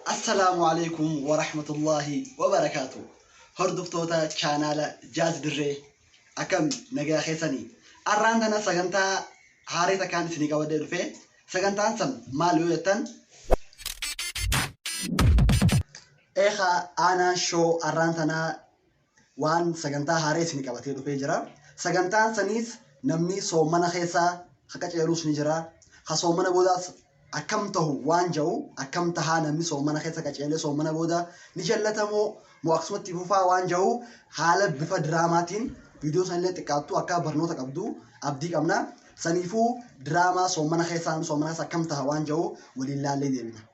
Assalaamu alaikum wa rahmatullahi wa barakaatu. Hordoftoota chaanaala Jaaz Dirree akkam nagaa keessanii. Arraan tana sagantaa haaraa takkaan isinii qabadhee dhufe. Sagantaan san maal yoo jettan? Eekaa aanaa shoo arraan tanaa waan sagantaa haaree isin qabatee dhufee jira. Sagantaan saniis namni soomana keessaa ka qaceeluus ni jira. Ka soomana boodaas akkam tahu waan ja'u akkam tahaa namni soomana keessa qaceelee soomana booda ni jallatamoo moo akkasumatti fufaa waan ja'u haala bifa diraamaatiin viidiyoo sanillee xiqqaattuu akka barnoota qabdu abdii qabna. Saniifuu diraamaa soomana keessaa soomana keessa akkam taha waan ja'u waliin laallee deebina.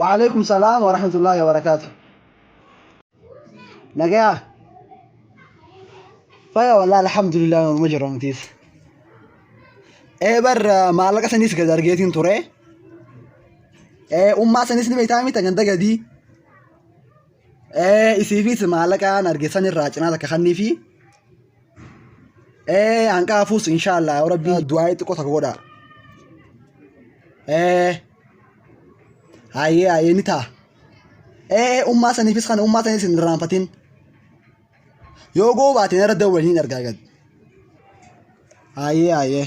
Wa'aleeykum salaam warahmatullaahi wabarakaatuh Nagayaa Faya wallahi alhamdulillah nama jira matiis Ee bar maallaqa saniis gad argeetiin ture Ee ummaa saniis ni beektaa mita ganda gadii Ee isiifis maallaqaan arge sanirraa cinaa takka kanniifi ee hanqaa fuus inshaallah yaa rabbii du'aa xiqqoo takka godha ee hayyee hayyee ni ta'a ee ummaa saniifis kana ummaa saniis hin irraanfatin yoo goobaateen irra dawwaliin argaa gad hayyee hayyee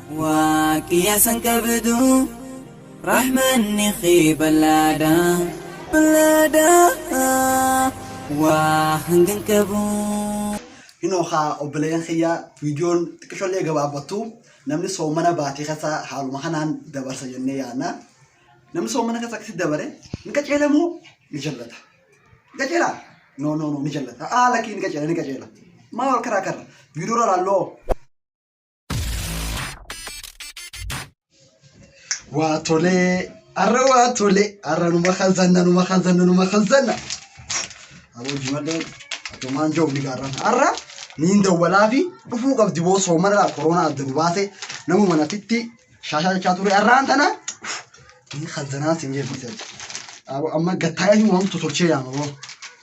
Waaqi asan qabdu rahmanni kee ballaadha ballaadha waa hangan qabu. Hinoo kaa obboleeyyan kiyya viidiyoon xiqqishollee gabaabbattu namni soomana baatii keessa haaluma kanaan dabarsa jennee yaadna. Namni soomana keessa akkasitti dabare ni qajeela moo ni jallata? Ni qajeela? No no no ni jallata. Aa lakkii ni qajeela ni qajeela. Maa wal karaa karra? Viidiyoo irraa laalloo. Waa tolee. Arra waa tolee. Arra numa kazanna numa kazanna numa kazanna. Aboo jimallee atumaan jiru ni gaarran. Arra niin dawwalaa fi dhufuu qabdi boo soomanaa koronaa adda nu baase nama manatitti shaashaa jechaa ture arraan tana ni kazanaa sin jedhu. Aboo amma gattaayee waan tolchee yaama boo.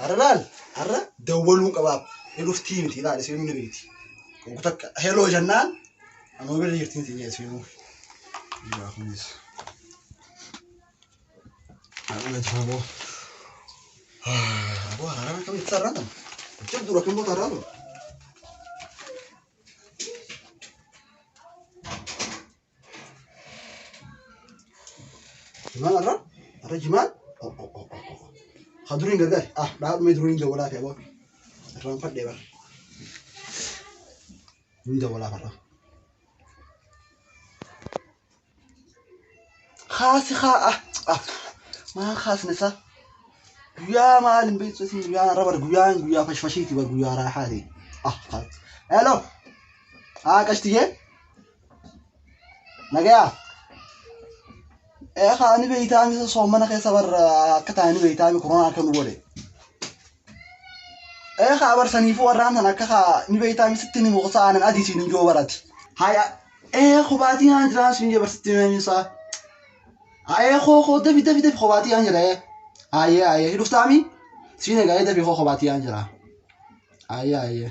Har'a laal har'a dawwaluun qabaaf ni dhuftii miti laal isiinuu ni beekti. Konku takka heloo jennaan anuma bira jirti miti inni isiinuu. Dhugaa kunis. Har'a na jaamoo. Aboo hararaan akkamitti sararaan kana? Jechuun dura kan moota hararaan dura. Jimaan arra arra jimaan oh oh oh oh oh. Ha duriin gargaar ah dhaabmee duriin dawwalaa fi aboo irraan fadhee bara. Inni dawwalaa farra. Kaasi haa ah ah maa kaasne isaa. Guyyaa maal hin beektu isin guyyaan arra bara guyyaan guyyaa fashfashiiti bara guyyaa raaxaati. Ah kaas. Hello. Ah qashtigee. Nagayaa. Eekaa ani beeytaami isa soomana keessa bar akka taa'anii beeytaami koronaa akka nu godhe. Eekaa bar saniifuu warraan tan akka kaa ni beeytaami sitti ni muqsa aanan adii siin hin joo barati. Haya ee kobaatii aan jiraan siin jee barsitti meemii isaa. Haya koo koo dafi dafi dafi kobaatii aan jira ee. Haya haya hidhuftaami siin egaa ee dafi koo kobaatii aan jira. Haya haya.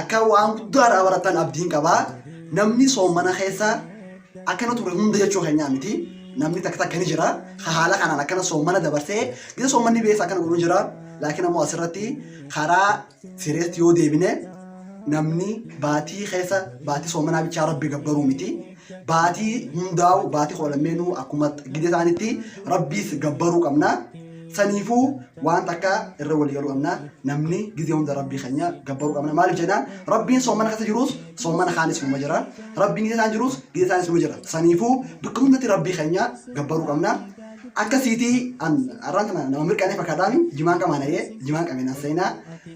Akka waan guddaa irraa barattan abdiin qaba. Namni soomana keessa akkana ture hunda jechuu keenyaa miti. Namni takka takka ni jira. Ka haala kanaan akkana soomana dabarsee gisa soomanni beessa akkana godhu ni jira. Laakiin ammoo asirratti karaa sireetti yoo deebine namni baatii keessa baatii soomanaa bichaa rabbi gabbaruu miti. baatii hundaa'u baati koo lammeenuu akkuma gide isaanitti rabbiis gabbaruu qabna saniifuu waan takka irra walii galuu qabna namni gizee hunda rabbii keenya gabbaruu qabna maaliif jennaan rabbiin soomana keessa jiruus soomana kaanis numa jira rabbiin gizee isaan jiruus gizee isaanis numa jira saniifuu bakka hundatti rabbii keenya gabbaruu qabna akkasiitii an arraan kana nama mirqanee fakkaataami jimaan qamaan ayee jimaan qabeen as seenaa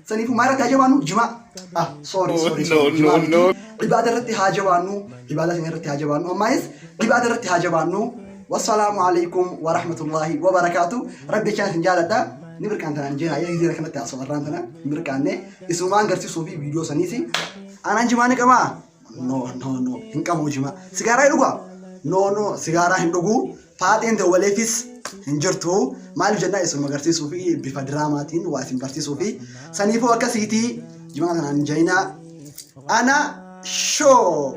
saniifuu maal irratti haa jabaannu jimaa ah sorry Oh, sorry no, sorry no, himaa miti. no. ibaada irratti haa jabaannu ibaada keenya irratti haa jabaannu ammaayis ibaada irratti haa jabaannu wassalaamu alaikum warahmatullaahi wabarakaatu rabbi jechaan isin jaaladha ni mirqaantanaan jeen ayyaa gizeera kanatti haasoo warraan tana mirqaanne isumaan garsiisuu fi viidiyoo saniisi aanaan jimaa ni qamaa No, no, no. Hin qabu jimaa. Sigaaraa hin dhugaa? No, no. Sigaaraa hin dhuguu. Faaxeen dawwaleefis hin jirtu. Maaliif jennaa isin agarsiisuu fi bifa diraamaatiin waa isin barsiisuu fi saniifuu akkasiitii jimaa kanaan hin jayinaa. Ana shoo!